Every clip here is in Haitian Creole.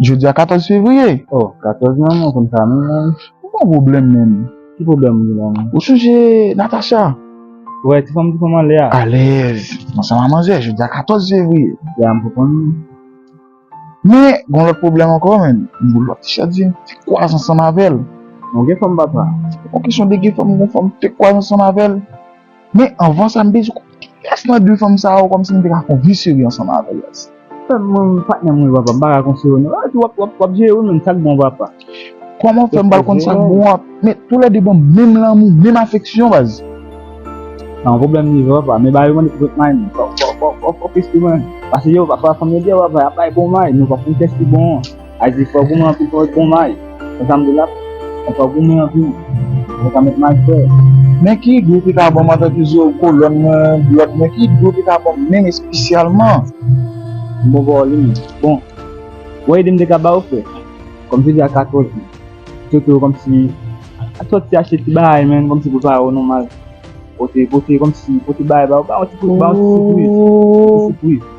Jodi a 14 fevriye. Oh 14 nan mwen konn sa menm menm. Ou pa pwoblèm menm. Ki pwoblèm ou gen la menm. Ou sonje Natacha. Wè ti fanm ti fanm anlè a. Alèz. Ansanm a manzè jodi a 14 fevriye. Jodi a m pou konn. Men gon lòt pwoblèm ankò menm. M pou lòt tichèt vin fè kwaz ansanm avèl. Bon gen fanm papa. Se pa kesyon de gen fanm gon fanm fè kwaz ansanm avèl. Men anvan sa m bezwen konn kiyès nan 2 fanm sa yo kòmsi m te ka fè yon vi serye ansanm avèl res. Frèm mwen patnèm mwen wi papa m paka konfye w non epi wap jere wi menm sak bon papa. Kòman w fè m pral konn sak bon an men tou lè 2 banm menm lanmou menm afeksyon baz. Sa yon pwoblèm li vre papa men ba yo mande pou tout may non fòk fòk fòk fòk plis tou men pase yo pafwa fanm yo di yo papa yap bay bon may men yo pap konn kiyès ki bon an. Ayibobo fò goumen anpil fò wè bon may konsa m de la Mwen fò goumen anpil pou mwen ka met may fre. Men ki dlo ki ka banm antan ke zo kolòn mwen blòt mwen ki dlo ki ka banm menm espesyalman. M bon bòw li menm. Bon Mwen ede m de ka ba ou frè Kòm jodi a 14 men Sote w kòm si Al sòti achte ti bagay menm kòm si pou l pa wè w nòmal Pote pote kòm si pote bagay ba ou ba yon ti ba yon ti sipriz Yon ti sipriz.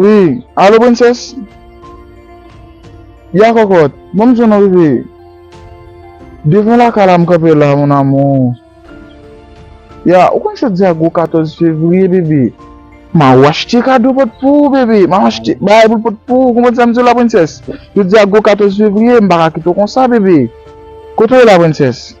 Wi, alo prensès? Ya kòkòt, bon m swen ou rive? Devan lakay la m kanpe la mon amour. Ya, ou konn sa di a gwo 14 fevriye bebe? Ma ou achte kado pot pou ou bebe, ma ou achte bagay pou pot pou ou, konprann sa m di w la prensès? Jodi a gwo 14 fevriye, m pa ka kite w konsa bebe. Kote ou ye la prensès?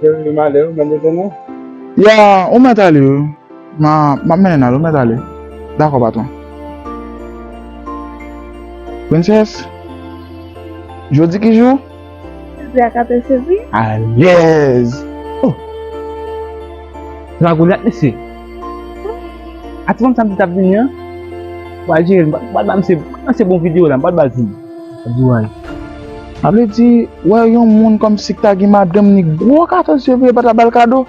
Yo male ou mèt ale nou? Ya, ou mèt ale wi. Ma, map mennen al, ou mèt ale. Dakò patwon. Princess? Jodi ki jou? Silvya ka te sezi. Alèz! Oh! Se pa Golyat mesye? A ti fanm sa m di tap vini an? M pral jere l, m pral ba misye, pandan se bon video la, m pral ba l vini. Lap di w al. Sa vle di, wè yon moun kòmsi k ta gen madanm ni gwo 14 fevriye pa ta ba l kado?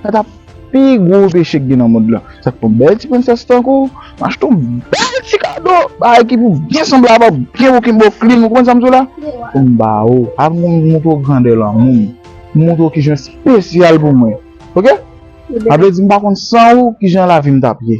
Sa ta pi gwo peche ki gen nan mond lan. Sa k fè yon bèl ti prensès tankou w, m achte yon bèl ti kado, bagay ki pou byen sanble avè w, byen wokin ba w klin, ou konprann sa m di w la? Pou m ba ou, avè m montre w grandè lanmou m, pou m montre w kijan w espesyal pou mwen. Ok? Sa vle di m pa konn san ou kijan lavi m t ap ye.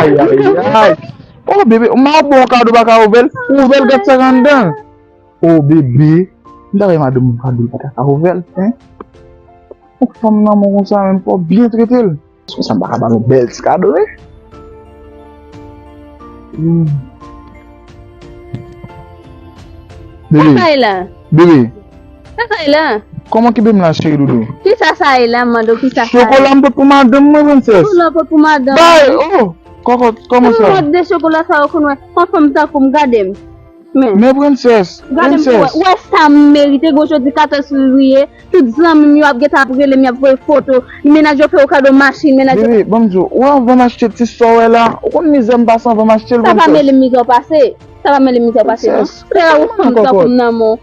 Ayayayay Oh bebe m ap ba w kado ou pa ka ouvè l Ouvè l gad sa k anndan l Oh bebe M ta renmen madanm m kado l pa ta ka ouvè l Hein Yon fanm lanmou konsa menm fò w byen trete l Konsa m pa ka ba l yon bèl ti kado wi Hum Sa k bay la Bebe Sa sa ye la? Kòman kibe m la cheri doudou? Kisa sa ye la m mande w kisa sa ye? Chokola m pot pou madanm mwen prensès. Chokola w pot pou madanm mwen? Bay oh! Kòkòt kòman sa? Ki mòd de chokola sa ou konn wè? On fanm tankou m gade m. Men. Men prensès! Gade m pou wè. Ou wè sa m merite gwo jodi 14 fevriye tout zanmi m yo ap gentan ap rele m y ap voye foto. Mennaj yo fè yo kado machin, mennaj yo. Bebe ban m di w, ou anvan m achte ti sa w wè la, ou konn mizè m pase anvan m achte l prensès. Sa pa mele m mizè w pase. Sa pa mele m mizè w pase non. Prensès! Kòkòt! Kòkòt! Ou fanm tankou m nan men w.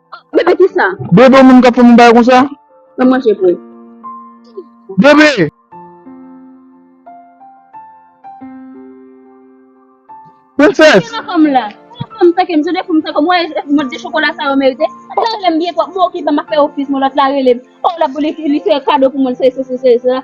Bebe kisa? Bebe ou menm kap fèm yon bagay konsa? Fèm manje pou ou. Bebe! Princess! Kisa fèm la? Kisa fèm tankem? Jodè fèm tankem wè e mòd de chokola sa yo merite? Lòt la relem byen fò, mwen okipe map fè ofis mwen lòt la relem oh lap li fè kado pou mwen se se se se se.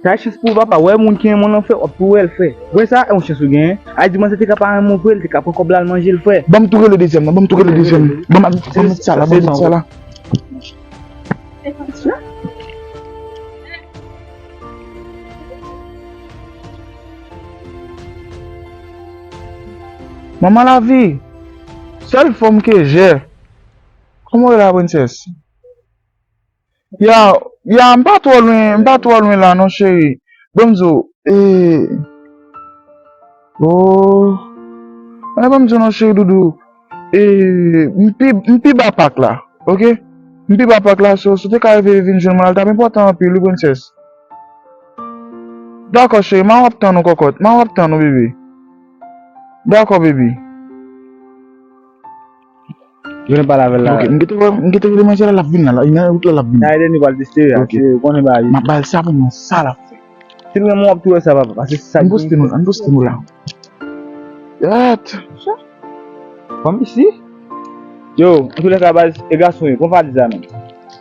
Sa e chans pou ou papa, wè moun ki renmen w lan fè, wap tou wèl fè. Wè sa e yon chans ou genyen. Al di manzè te ka pa renmen w vre, li te ka pran kòb la al manje l frè. Banm tou rele dezyèm nan, banm tou rele dezyèm nan. Banm al met, banm met sa la, banm met sa la. Manman lavi! Sèl fanm ke jè! Kòman ou rele la princesse? Ya, ya, m pa twò lwen, m pa twò lwen la non cheri. Ban m di w, ee, oo. An ban m di w non cheri doudou, ee, m pi, m pi ba pak la, oke. M pi ba pak la so, si w te ka rive vin jwenn mwen la l t ap enpòtan anpil wi prensès. Dakò cheri, m a w ap tann ou kòkòt, m a w ap tann ou bebe. Dakò bebi. Yo nan pale avèl la. Ok, m gete wè, m gete rele manzè la lap vin la, li nan wout la lap vin. Sa Edeni pral teste yo a, Ok. se ou konnen bagay yo. Map bal sa pou m wè sa lap fè. Si l renmen w wap tou wè sa papa, pase se sa Ann ki poste nou, ann poste nou la. Yat! Fanm isi? Yo, antoulèka baz, e gason yo, pran pa di sa non.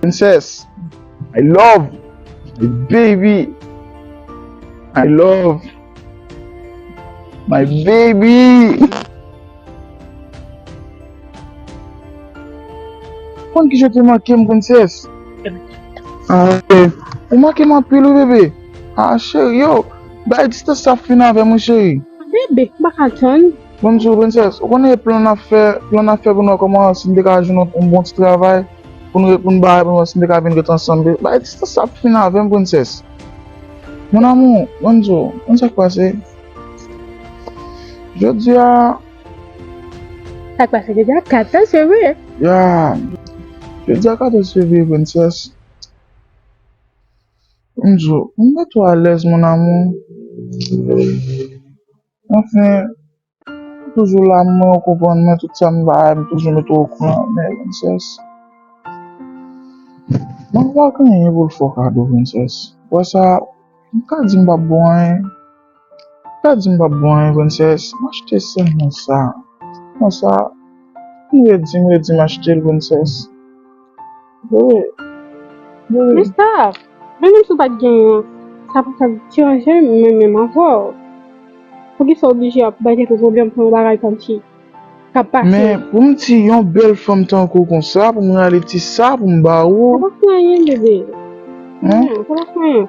Princess I love my baby I love my baby Konn kijan te manke m princess Ou manke m anpil wi bebe Ahh chérie yo Bay distance sa fin avè m wi chérie Bebe m paka tann. Bonjou princess, ou konnen e plan nap fè, plan nap fè pou nou wè kòman si nou te ka jwenn yon bon ti travay pou nou pou nou bay pou nou wè si nou te ka vin ret ansanm baby, bay distans la ap fini avèm princess Mon amour, Bonjou, konn sak pase Jodia. Sak pase jodia 14 fevrier. Yeah Jodia 14 fevrier princess Bonjou, m pa two alèz mon amour. Anfen, ou toujou la m wè ou konprann mwen tout sa m bay m toujou mete w okouran men Princess mwen m pa gen anyen pou l fè w kado Princess ou wè sa m ka di m pap ba w anyen m ka di m pap ba w anyen Princess m achte sèl mwen sa m redi m redi m achte l Princess. Men staf, mwen menm si w pat gen yon, sa pa tap deranje m mwen menm avè w. Poukisa w oblije ap bay tèt ou pwoblèm pou yon bagay kòmsi kap pase. Men pou m ti yon bèl fanm tankou w konsa pou m rale ti sa pou m ba ou. Sa pa fè anyen bebe. Sa pa fè anyen.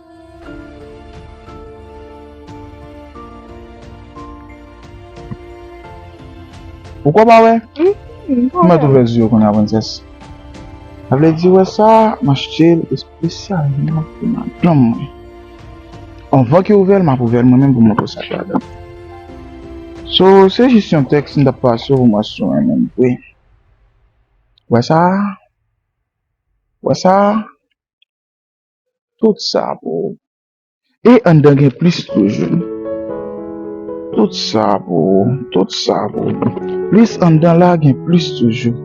Ou ko pa wè? Ou mèt ouvè zye w kounye a prensès. Sa vle di wè sa, m achte l espesyalman pou madanm mwen. Anvan ke w ouvè l, m ap ouvè l mwen menm pou m montre w sa ki ladan l. So, se jis yon tèks m t ap pase w pou m wè si w renmen l vre. Wè sa? Wè sa? Tout sa pou ou. E anndan gen plis toujou. Tout sa pou ou. Tout sa pou ou. Plis anndan la gen plis toujou.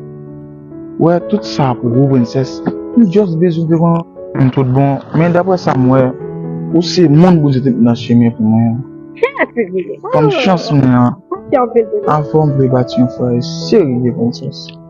Ou wè tout sa pou ou prensès. M just bezwen di w. M tout bon men daprè sa m wè ou se moun Bondye te met nan chemen pou mwen an. Kòm chans mwen an. Avè w m vle bati yon fwaye serye prensès.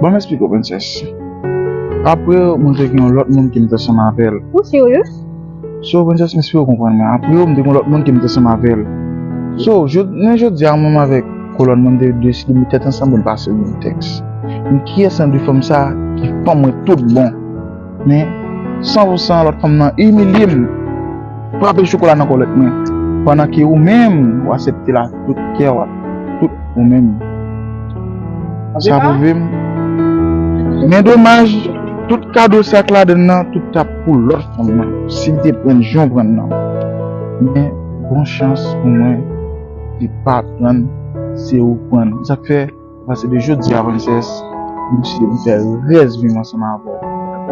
Ban m esplike w prensès. Apre yo, mwen te gen yon lòt moun ki m te ansanm avè l. Ou si w yo? Si w prensès, m espere w konprann mwen. Apre yo, m te gen yon lòt moun ki m te ansanm avè l. Si w jounen jodi a, mwen menm avèk kolòn mwen te deside met tèt ansanm pou n pase yon tèks. Men kiyès nan de fanm sa a ki fanm mwen toutbon? Men, san pou san, lòt fanm nan imilye m, frape chokola nan kòlèt mwen, pandan ke ou menm, ou asepte l ak tout kè w, ak tout ou menm. Sa pwouve m. Men domaj, tout kado sa k ladan l nan, tout t ap pou lòt fanm nan, si l te pran jan w pran l nan. Men, bon chans pou mwen, li pa pran l, se ou k pran l. Sa k fè? Apati de jodi a princess m deside m fè rès vim ansanm avèw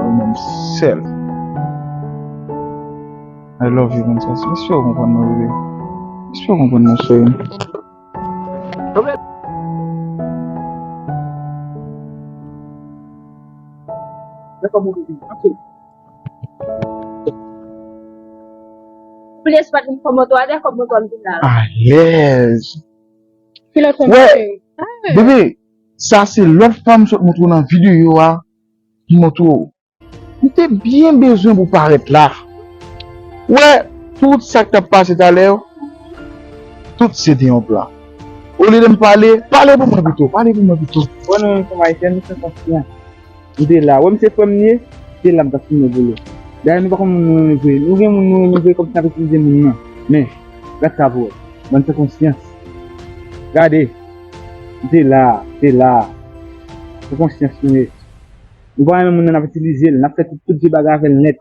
ou menm sèl I love you princess m espere w konprann mwen bebe m espere w konprann mwen cherim. Alèz. Ki lòt fanm sa chéri? Bebe, sa se lòt fanm m sot montre w nan videyo a ki montre w. M te byen bezwen pou w parèt la. Ou wè, tout sa k t ap pase talè yo, tout se te yon plan. Olye de m pale, pale pou mwen pito, pale pou mwen pito. Bon nou menm fanm Ayisyen nou fè konfyans. M te la, wè m se frè m li ye, m te la m t ap fimen volo. Dayè nou pa konn moun nou renmen vre, nou gen moun nou renmen vre kòm si n ap itilize moun nan. Men, gad sa pou wè, bann san konsyans. Gade! M te la, m te la. San konsyans nou ye. Nou pa renmen moun nan n ap itilize l, n ap fè tout vye bagay avè l nèt.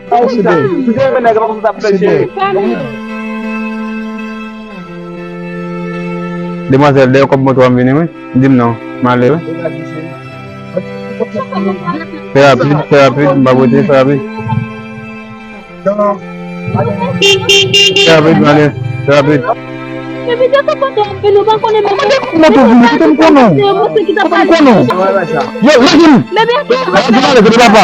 Demwazel deyo kob moto an vini wi dim non male wi Fe rapid fe rapid m pa bote fe rapid Fe rapid male fe rapid Yo lagim Lagim ale kote papa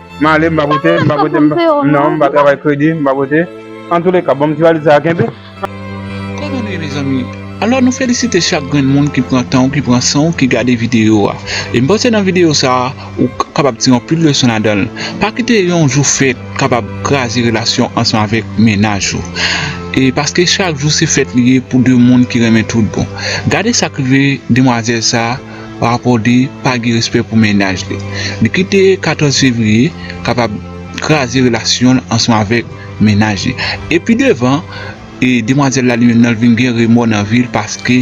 Male m pa pote, m pa pote, non m pa travay kredi, m pa pote. An tou le ka, banm ti valiz sa a kenbe. Kòman nou ye mezanmi? Alò nou felisite chak grenn moun ki pran tan ou ki pran san ou ki gade videyo a. E m panse nan videyo sa a ou kapab tire anpil leson ladan l. Pa kite yon jou fèt kapab kraze relasyon ansanm avèk mennaj ou. E paske chak jou se fèt li ye pou 2 moun ki renmen tout bon. Gade sa k rive demwazèl sa a. rapò de pa gen respè pou mennaj li. Li kite 14 fevriye kapab kraze relasyon l ansanm avèk mennaj li. E pi devan, demwazèl la li menm nan li vin gen remò nan vi l paske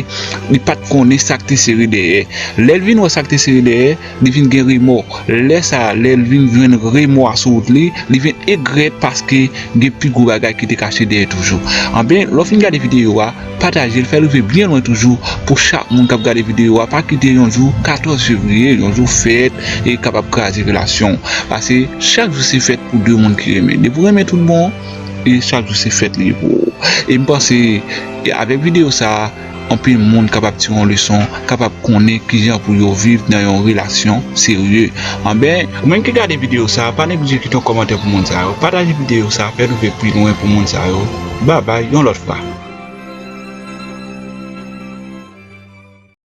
li pa t konnen sa k te sere dèyè. Lè l vin wè sa k te sere dèyè, li vin gen remò. Lè sa a, lè l vin jwenn remò a sou wout li, li vin egrèt paske gen pi gwo bagay ki te kache dèyè toujou. Anben, lè w fin gade videyo a, Pataje l fè l rive byen lwen toujou pou chak moun kap gade videyo a pa kite yon jou 14 fevriye yon jou fèt e kapab kraze relasyon w pase chak jou se fèt pou 2 moun ki renmen depi w renmen tout bon e chak jou se fèt li ye pou ou e m panse avèk videyo sa anpil moun kapab tire yon leson kapab konnen kijan pou yo viv nan yon relasyon serye anben ou menm ki gade videyo sa pa neglije kite yon kòmantè pou moun sa yo pataje videyo sa fè l rive pi lwen pou moun sa yo. Babay yon lòt fwa.